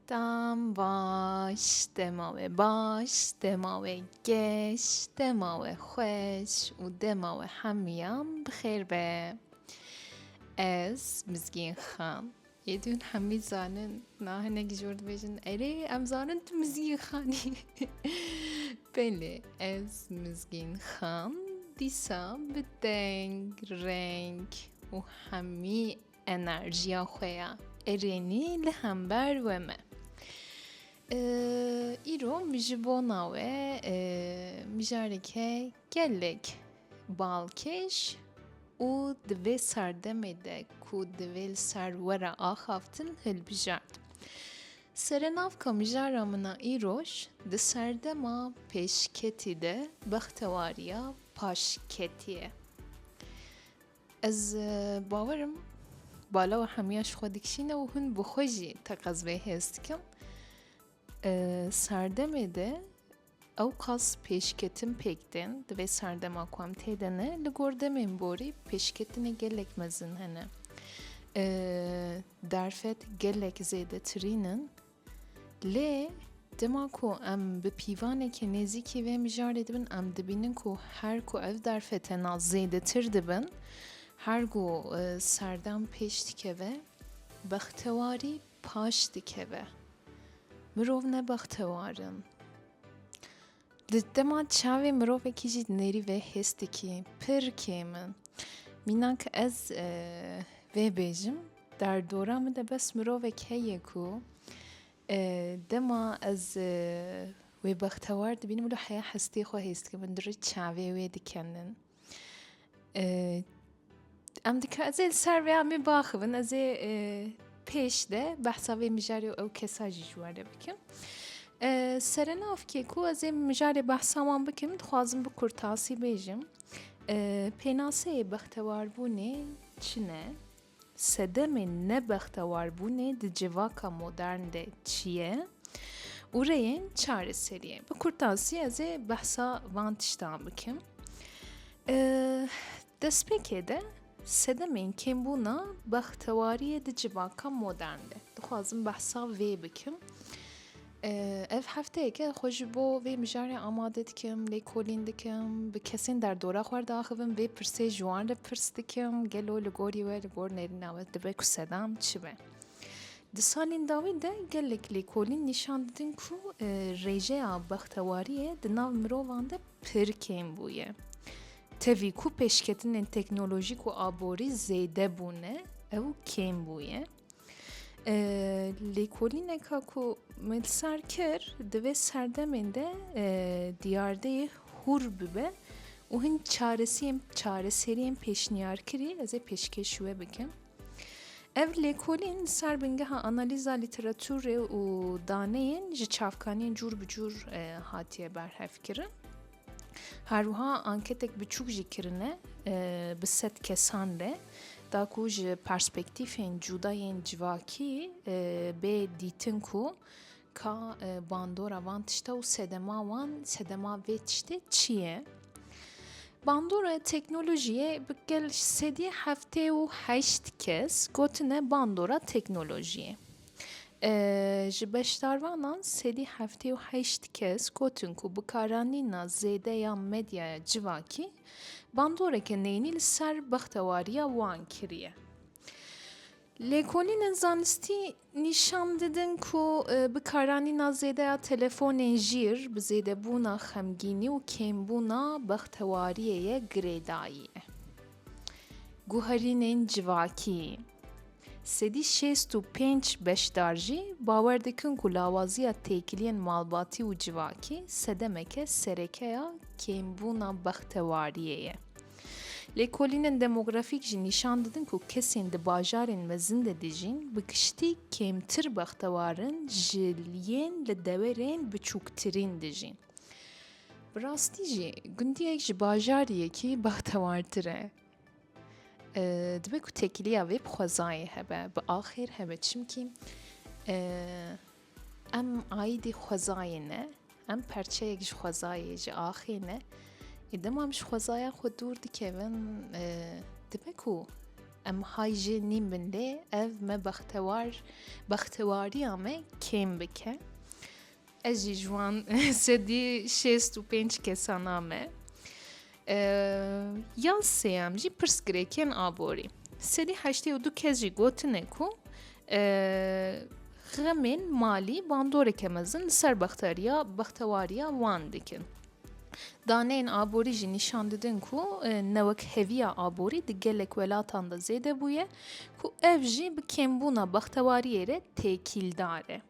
Tam baş dema we baş dema we geş dema we xweş û dema we hemiyan bi xêr be. Ez Mizgîn Xan. Yedûn Hemîd zanin na hinek jor dibêjin erê em zanin tu mizgîn xanî Belê ez mizgîn xan dîsa bi deng reng û hemî enerjiya xwe ya erênî li hember we me Îro min ji bona we mijareke Gelek balkêş û di vê serdemê de ku divê li ser we re axaftin hilbijart. Serenavka mijara min a îroj di serdema pêşketî de bextewariya paşketî ye. Ez bawer im bala û hemiya ji xwe dikişîne û hûn bi xwe jî teqez vê hêz dikin. Serdemê de Ewqas pêşketin pêk tên, di vê serdema ku em tê de ne, li gor demên borî pêşketinê gelek mezin hene. Derfet gelek zêdetirîn in. Lê Dema ku em bi pîvanekê nêzîkî vê mijarê dibin em dibînin ku her ku ev derfetena zêdetir dibin her ku e, serdem pêş dikeve bextewarî paş dikeve. Mirov ne bextewar in. Di dema çavê mirovekî jî nêrî vê hês dikî pir kêm in. Mînak ez e, vê bêjim der dora min de bes mirovek heye ku e, dema ez e, wê bextewar dibînim wilo heya hestê xwe hês dikim min dirê çavê wê dikenin. Em dika ez ê li ser vê amê baxivin ez ê pêş de behsa vê mijarê û ew kesa jî ji were bikim. Serenavkê ku ez ê mijarê behsa wan bikim dixwazim bi kurtasî bêjim. Pênaseyê bextewaribûnê çi ne? Sedemên nebextewarbûnê di civaka modern de çi ye û rêyên çareseriyê? Bi kurtasî ez ê behsa van tiştan bikim. Destpêkê de sedemên kêmbûna bextewariyê di civaka modern de dixwazim behsa vê bikim. Ev hefteyeke xwe ji bo vê mijarê amade dikim, lêkolîn dikim, bi kesên derdora xwe re diaxivim, vê pirsê ji wan re pirs dikim, gelo li gorî we, li gor nêrîna we dibe ku sedam çi be? Di salên dawî de gelek lêkolîn nîşan didin ku rêjeya bextewariyê di nav mirovan de pir kêm bûye. Tevî ku pêşketinên teknolojîk û aborî zêde bûne, ew kêm bûye. Lêkolîneka ku me li ser kir divê serdemên de diyardeyê hûr bibe û hin çaresiyên çareseriyên pêşniyarkirî ez ê pêşkêş wê bikim. Ev lêkolîn li ser bingeha analîza lîteraturê û daneyên ji çavkaniyên cûr bi cûr hatiye berhevkirin. Herwiha anketek biçûk jî kirine bi sed kesan re da ku ji perspektîfên cûda yên civakî bê dîtin ku ka bandora van tişta û sedema wan sedema vê tiştê çi ye. Bandora teknolojiyê bi gel sedî heftê û heşt kes gotine bandora teknolojiyê. Ji beşdarvanan sêdî heftê û heşt kes gotin ku bi karanîna zêde ya medyaya civakî bandoreke neyînî li ser bextewariya wan kiriye. Lêkolînên zanistî nîşan didin ku bi karanîna zêde ya telefonên jîr bi zêdebûna xemgînî û kêmbûna bextewariyê ye girêdayî. Guherînên civakî Sedî şêst û pênc beşdar jî bawer dikin ku lawaziya têkiliyên malbatî û civakî sedemeke sereke ya kêmbûna bextewariyê ye. Lêkolînên demografîk jî nîşan didin ku kesên di bajarên mezin de dijîn bi giştî kêmtir bextewar in ji yên li dewerên biçûktirîn dijîn. Bi rastî jî gundiyek ji bajariyekî bextewartir e. Dibe ku têkiliya vê bi xwezayê hebe, bi axêr hebe. Çimkî em aîdî xwezayê ne, em parçeyek ji xwezayê, ji axê ne. Ê dema em ji xwezaya xwe dûr dikevin dibe ku em hay jê nîm bin lê ev me bextewar bextewariya me kêm bike. Ez jî ji wan sedî şêst û pênc kesan a me. Ya sêyem jî pirsgirêkê yên aborî. Sedî heştê û du kes jî gotine ku xemên malî bandoreke mezin li ser bexteriya bextewariya wan dikin. Daneyên aborî jî nîşan didin ku newekheviya aborî di gelek welatan de zêde bûye ku ev jî bi kêmbûna bextewariyê re têkîldar e.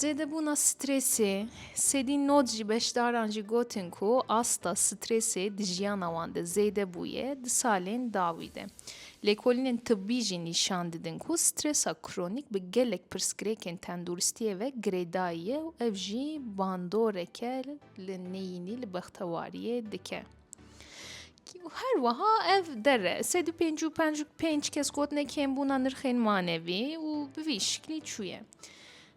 Zêdebûna strêsê, Sedî Nod jî beşdaran jî gotin ku asta strêsê di jiyana wan de zêde bûye di salên dawî de. Lêkolînên tibbî jî nîşan didin ku strêsa kronîk bi gelek pirsgirêkên tenduristiyê ve girêdayî ye û ev jî bandoreke li neyînî li bextewariyê dike. Her wiha ev dere sed û pêncî û penc pênc kes gotine kêmbûna nirxên manevî û bi vî şiklî çûye.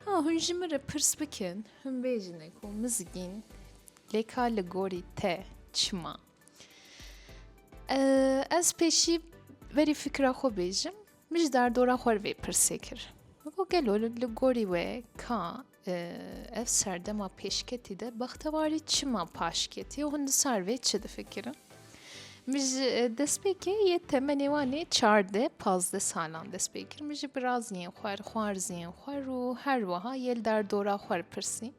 Ha hûn ji min re pirs bikin, hûn bêjine ku mizgîn lê ka li gorî te çima. Ez pêşî verî fikra xwe bêjim, min ji derdora xwe vê pirsê kir. Gelo li gorî wê ka Ev serdema pêşketî de bextewarî çima paş ketiye û hûn di sar vê çi difikirin? Min ji e, destpêkê yê temenê wanê çardeh pazdeh salan dest pê kir min ji biraziyên xwe li xwarziyên xwe û her wiha yê li derdora xwe pirsî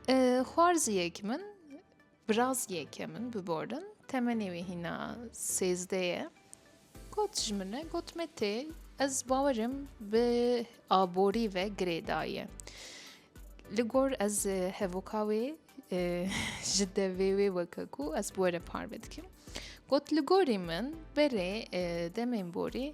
e, xwarziyek min Biraz yeke min biborin, temenê wê hîna sêzdeh ye. Got ji min e, got me tê, ez bawerim bi aborî ve girê daye. Li gor ez hevoka wê ji devê wê weke ku ez bi were parve dikim. Got li gorî min berê demên borî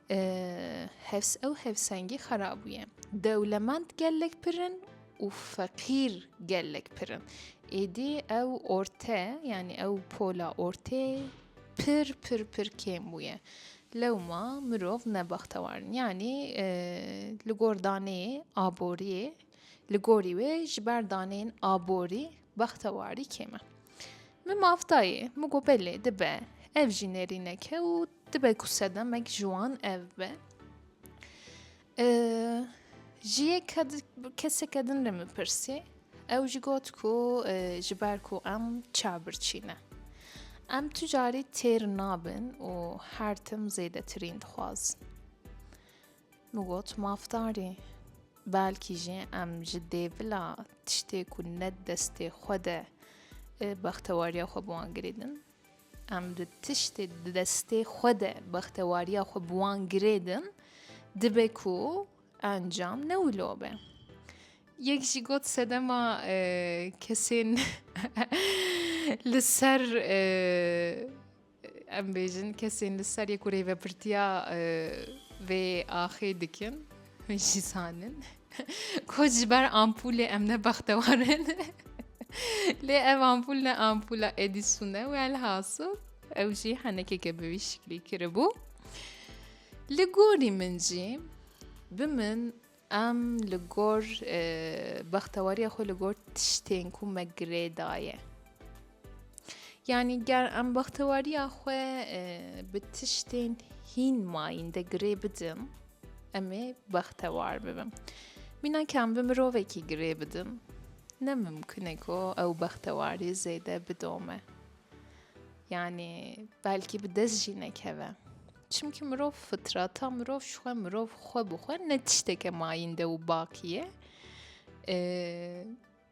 Hevs ew hevsengî xera bûye. Dewlemend gelek pir in û feqîr gelek pir in. Êdî ew orte yanî ew pola ortê pir pir pir kêm bûye. Lewma mirov ne bextewar in. Yanî li gor daneyê aboriyê li gorî wê ji ber daneyên aborî Bexta warî kêm e. Min maf dayê, min got belê dibe ev jî nêrînek e û dibe ku sedemek ji wan ev be. Ji yê keseke din re min pirsî, ew jî got ku ji ber ku em çavbirçî ne. Em tu carî têr nabin û her tim zêdetirîn dixwazin. Min got mafdarî. Belkî jî em ji dêvila tiştê ku ne di destê xwe de bextewariya xwe bi wan girê din, em di tiştê di destê xwe de bextewariya xwe bi wan girê din, dibe ku encam ne wilo be. Yek jî got sedema kesên li ser Em bêjin kesên li ser yê ku rêvebirtiya vê axê dikin hûn jî zanin ku ji ber ampûlê em ne bextewar in lê ev ampûl ne ampûla Edîsun e welhasil ew jî henekeke bi wî şiklî kiribû. Li gorî min jî bi min Em li gor bextewariya xwe li gor tiştên ku me girê daye. Yanî ger em bextewariya xwe bi tiştên hîn mayîn de girê bidim, em ê bextewar bibim. Mîna ke em bi mirovekî girê bidim, ne mimkun e ku ew bextewarî zêde bidome. Yanî belkî bi dest jî nekeve. Çimkî mirov fitrata mirov ji xwe mirov xwe bi xwe ne tişteke mayînde û bakî ye.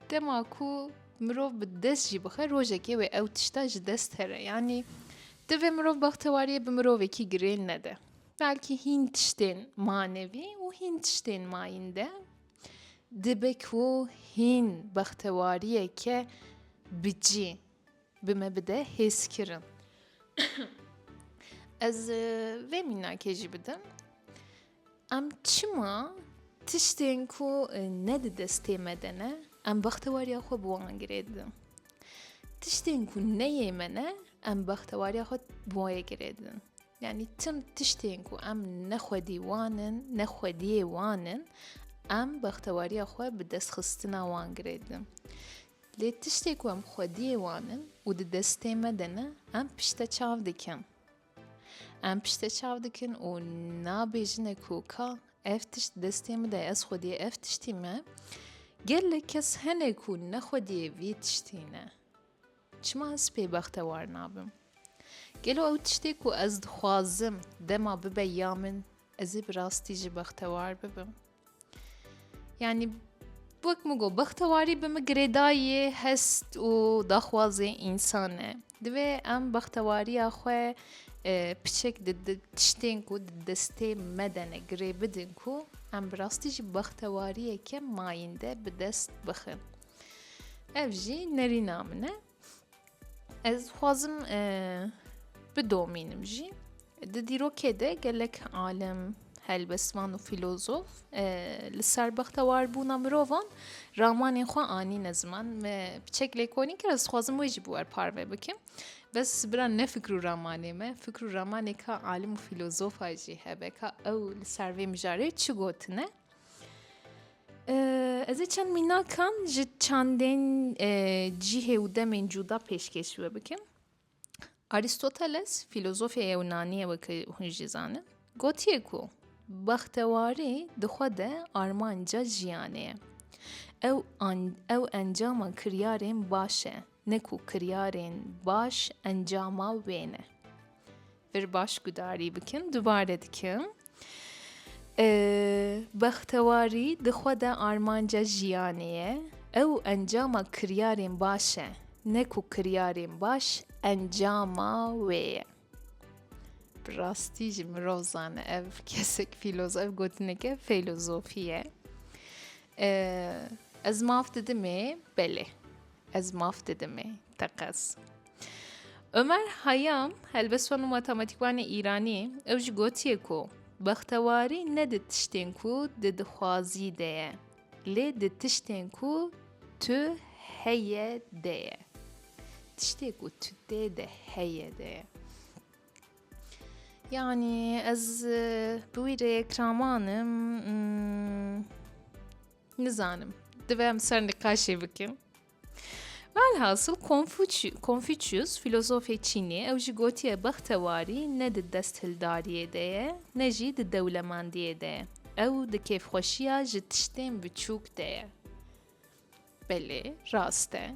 Dema ku mirov bi dest jî bixe rojekê wê ew tişta ji dest here yanî divê mirov bextewariyê bi mirovekî girêl nede. Belkî hîn tiştên manevî û hîn tiştên mayînde dibe ku hîn bextewariyeke bicî Bi me bide hêzkirin. Ez vê mînakê jî bidim. Em çima tiştên ku ne di destê me de ne, em bextewariya xwe bi wan girê didin. Tiştên ku ne yê me ne, em bextewariya xwe bi wayê girê didin. Yani tim tiştên ku em ne xwedî wan in, ne xwediyê wan in, em bextewariya xwe bi destxistina wan girê didin. Lê tiştê ku em xwediyê wan in û di destê me de ne, em pişte çav dikin. Em pişte çav dikin û nabêjine ku ka ev tişt destê min de ez xwediyê ev tiştî me, gelek kes hene ku ne xwediyê vî tiştî ne. Çima ez pê bextewar nabim? Gelo ew tiştê ku ez dixwazim dema bibe ya min, ez ê bi rastî jî bextewar bibim? Yani wek min got bextewarî bi min girêdayî hest û daxwazê însan e divê em bextewariya xwe piçek di tiştên ku di destê me de ne girê bidin ku em bi rastî jî bextewariyeke mayînde bi dest bixin ev jî nerîna min e Ez xwazim bidomînim jî di dîrokê de gelek alim helbesvan û fîlozof li ser bextewarbûna mirovan ramanên xwe anîne ziman me biçek lêkolîn kir ez xwazim wê jî bi wer parve bikim bes bira ne fikr û ramanê me fikr û ramanê ka alim û fîlozofa jî hebe ka ew li ser vê mijarê çi gotine Ez ê çend mînakan ji çandên cîhê û demên cûda pêşkêş we bikim. Aristoteles fîlozofê Yewnanî ye weke hûn jî zanin. Gotiye ku bextewarî di xwe de armanca jiyanê ye. Ew an ew encama kiryarên baş e. Ne ku kiryarên baş encama wê ne. Vir baş gudarî bikin, dubare dikim. Bextewarî di xwe de armanca jiyanê ye. Ew encama kiryarên baş e. Ne ku kiryarên baş encama wê ye. Bi rastî jî mirov zane ev kesek fîloz ev gotineke fêlozofî ye. Ez maf didimê belê. Ez maf didim ê teqez. Ömer Hayam, helbeswan û matematîkwanê Îranî, ew jî gotiye ku bextewarî ne di tiştên ku di dixwazî de ye, lê di tiştên ku tu heye de ye. Tiştê ku tu tê de heye de ye. Yani ez bi wî rê kraman im. Nizanim. Divê em ser niqaşê bikin. Velhasıl Konfuçyus filozofê Çînê ew jî gotiye bextewarî ne di desthildariyê de ye ne jî di dewlemendiyê de ye. Ew di kêfxweşiya ji tiştên biçûk de ye. Belê, rast e.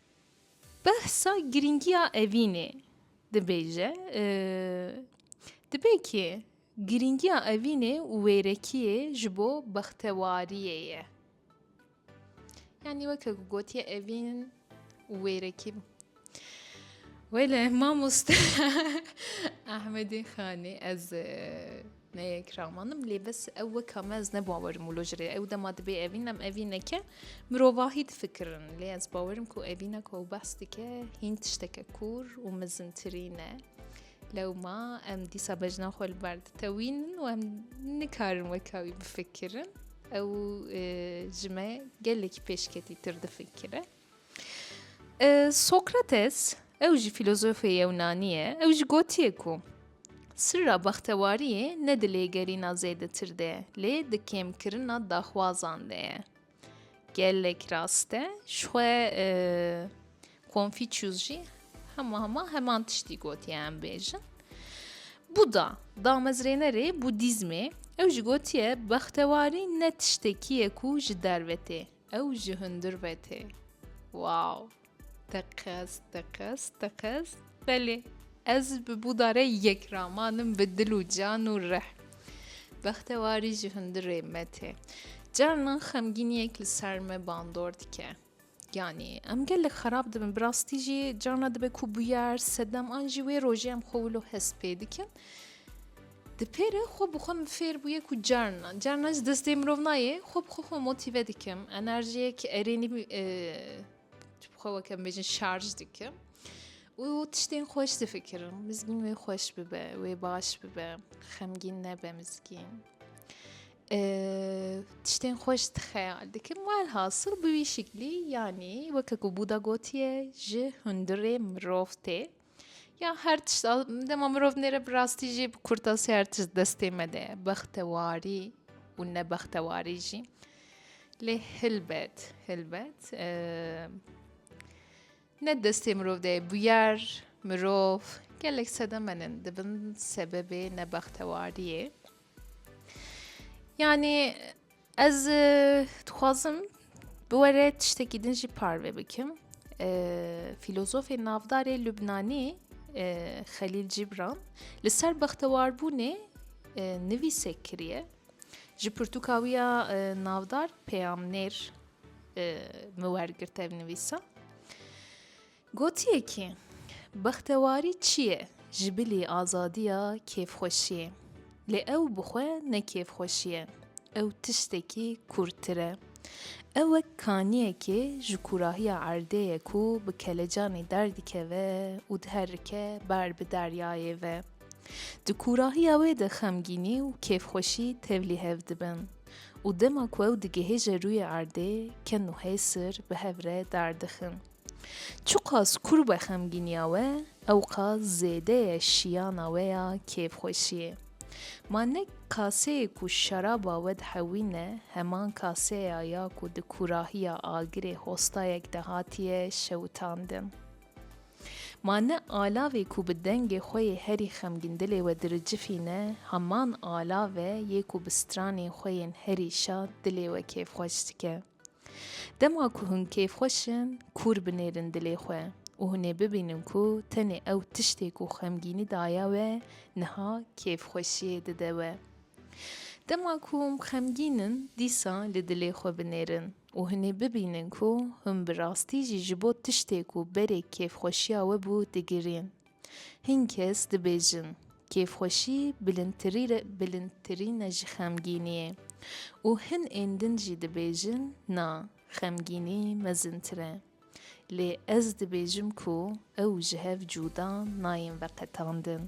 Behsa girîngiya evînê dibêje, dibe ki girîngiya evînê û wêrekiyê ji bo bextewariyê ye. Yanî weke ku gotiye evîn û wêrekî wele mamoste Ahmedê Xanê ez Ne yek ramanim lê bes ew weka me ez ne bawerim û lojirê ew dema dibê evîn em evîn neke mirovahî difikirin lê ez bawerim ku evîna ku ew behs dike hîn tişteke kûr û mizintirî ne. Lewma em dîsa bejna xwe li ber ditewînin û em nikarin weka wî bifikirin. Ew e, ji me gelekî pêşketîtir difikire. Sokrates, ew jî fîlozofê yewnanî ye, ew jî gotiye ku sirra bextewariyê ne di lêgerîna zêdetir de ye, lê di kêmkirina daxwazan de ye. Gelek rast e, jixwe Konfîçyûs jî hema hema heman tiştî gotiye em bêjin. Buda, damezrênerê Budîzmê, ew jî gotiye bextewarî ne tiştekî ye ku ji derve tê, Ew ji hundir ve tê. Wow! Teqez, teqez, teqez. Belê, ez bi bûdare yek ramanim bi dil û can û rih. Bextewarî ji hundirê me tê. Carinan xemgîniyek li ser me bandor dike. Yanî, em gelek xerab dibin. Bi rastî jî carna dibe ku bûyer, sedem an jî wê rojê em xwe wilo hest pê dikin. Di pêre xwe bi xwe min fêr bûye ku carna carna ji destê mirov nayê xwe bi xwe xwe motîve dikim, enerjiyek erênî ji bi xwe weke em bêjin şarj dikim û tiştên xweş difikirim. Mizgîn wê xweş bibe, wê baş bibe, xemgîn nebe mizgîn. Tiştên xweş dixeyal dikim welhasil bi wî şiklî yanî weke ku bûda gotiye ji hundirê mirov tê. Ya her tişt dema mirov nêre bi rastî jî bi kurtasî her tişt destê me de bextewarî û nebextewarî jî lê hilbet hilbet ne destê mirov de bûyer mirov gelek sedemenin dibin sebebê nebextewariyê yanî Ez dixwazim bi we re tiştekî din jî parve bikim. Filozofê navdarê Lubnanî Xelîl Cîbran li ser bextewarbûnê nivîsek kiriye. Ji pirtûka wî ya navdar peyamnêr min wergirte ev nivîsa. Gotiye ki, Bextewarî çi ye? Ji bilî azadiya kêfxweşiyê. Lê ew bi xwe ne kêfxweşî ye. Ew tiştekî kûrtir e. Ew wek kaniyekê ji kûrahiya erdê ye ku bi kelecanê derdikeve û diherike ber bi deryayê ve. Di kûrahiya wê de xemgînî û kêfxweşî tevlî hev dibin. Û dema ku ew digihêje rûyê erdê, ken û hêsir bi hev re derdixin. Çiqas kur be xemgîniya we, ewqas zêde ye şiyana we ya kêfxweşiyê. Ma ne kaseyê ku şeraba we dihewîne, heman kase ya ya ku di kurahiya agirê hostayek de hatiye şewitandin. Ma ne alavê ku bi dengê xwe yê herî xemgîn dilê we diricifîne, heman alav e yê ku bi stranên xwe yên herî şad dilê we kêfxweş dike. Dema ku hûn kêfxweş in, kûr binêrin dilê xwe û hûn ê bibînin ku tenê ew tiştê ku xemgînî daye we niha kêfxweşiyê dide we. Dema ku hûn xemgîn in, dîsa li dilê xwe binêrin û hûn ê bibînin ku hûn bi rastî jî ji bo tiştê ku berê kêfxweşiya we bû digirîn. Hin kes dibêjin, kêfxweşî bilindtirîne ji xemgîniyê û hin ên din jî dibêjin na, xemgînî mezintir e. Lê ez dibêjim ku ew ji hev cûda nayên veqetandin.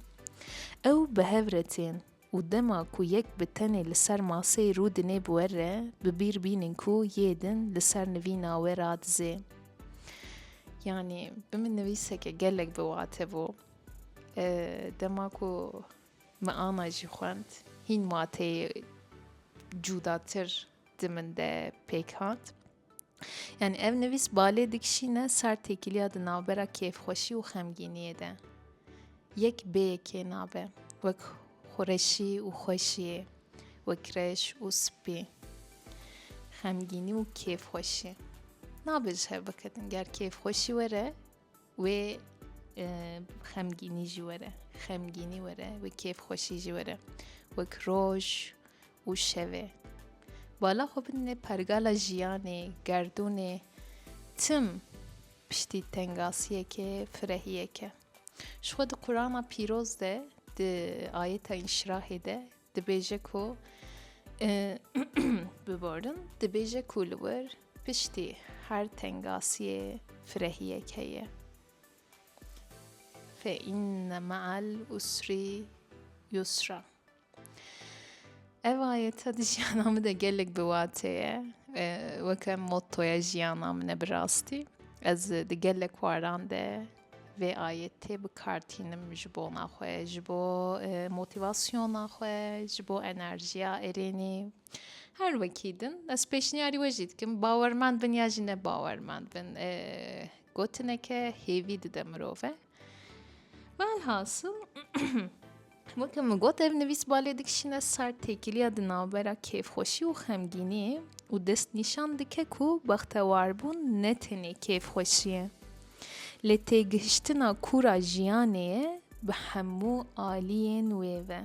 Ew bi hev re tên, Û dema ku yek bi tenê li ser maseyê rû dinê bi we re, bi bîr bînin ku yê din li ser nivîna we radizê. Yanî bi min nivîseke gelek bi wate bû. Dema ku min ana jî xwend, hîn wateyê cûdatir di min de pêk hat. Yani ev nivîs balê dikişîne ser têkiliya di navbera kêfxweşî û xemgîniyê de. Yek bêyekê nabe. Wek xureşî û xweşiyê. Wek reş û spî. Xemgînî û kêfxweşî. Nabe ji hev bikedin. Ger kêfxweşî were, Wê xemgînî jî were, xemgînî were, wê kêfxweşî jî were, wek roj û şevê. Bala xwe bidinê pergala jiyanê, gerdûnê, tim piştî tengasiyeke, firehiyeke. Ji xwe di Qurana pîroz de di ayeta înşirahê de Dibêje ku biborin dibêje ku li wir piştî her tengasiyê firehiyek heye. Fe inne me'al usrî yusra. Ev ayete di jiyana min de gelek bi watê ye. Weke mottoya jiyana min e bi rastî. Ez di gelek waran de Vê ayê tê bikartînim ji bona xwe, ji bo motivasyona xwe, ji bo enerjiya erênê. Her wekî din ez pêşniyarî we jî dikim bawermend bin ya jî ne bawermend bin. Gotineke hêvî dide mirove. Velhasil Weke min got ev nivîs balê dikişîne ser têkiliya di navbera kêfxweşî û xemgîniyê û destnîşan dike ku bextewarbûn ne tenê kêfxweşî ye. Lê têgihiştina kûra jiyanê ye bi hemû aliyên wê ve.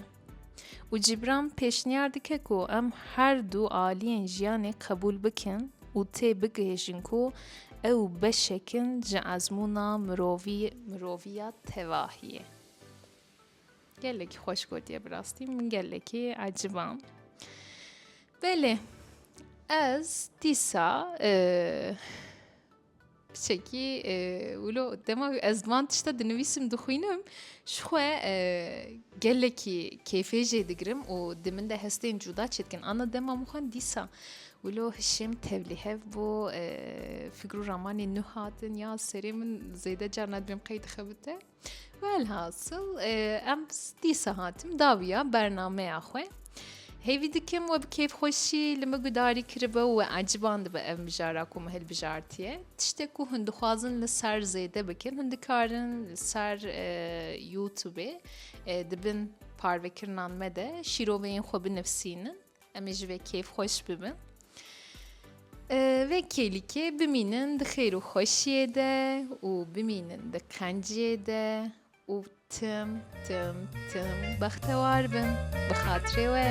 Û Cîbran pêşniyar dike ku em her du aliyên jiyanê qebûl bikin û tê bigihîjin ku ew beşek in ji ezmûna mirovî miroviya tevahiyê. Gelekî xweş gotiye bi rastî min gelekî ecibam. Belê ez dîsa çekî wilo dema ez van tişta dinivîsim dixwînim ji xwe gelekî kêfê jê digirim û di min de hestên cuda çê dikin anna dema min xwend dîsa wilo hişim tevlî hev bû fikr û ramanên nû hatin ya serê min zêde carna dibêm qey dixebite. Velhasıl em dîsa hatim dawiya bernameya xwe. Hêvî dikim we bi kêfxweşî li min gudarî kiribe û we eciban dibe ev mijara ku min hilbijartiye. Tiştê ku hûn dixwazin li ser zêde bikin, hûn dikarin li ser YouTubeê dibin parvekirinan me de şîroveyên xwe binivîsînin. Em ê ji vê kêfxweş bibin. Vê kêlikê bimînin di xêr û xweşiyê de û bimînin di qenciyê de û tim tim tim bextewar bin bi xatirê we.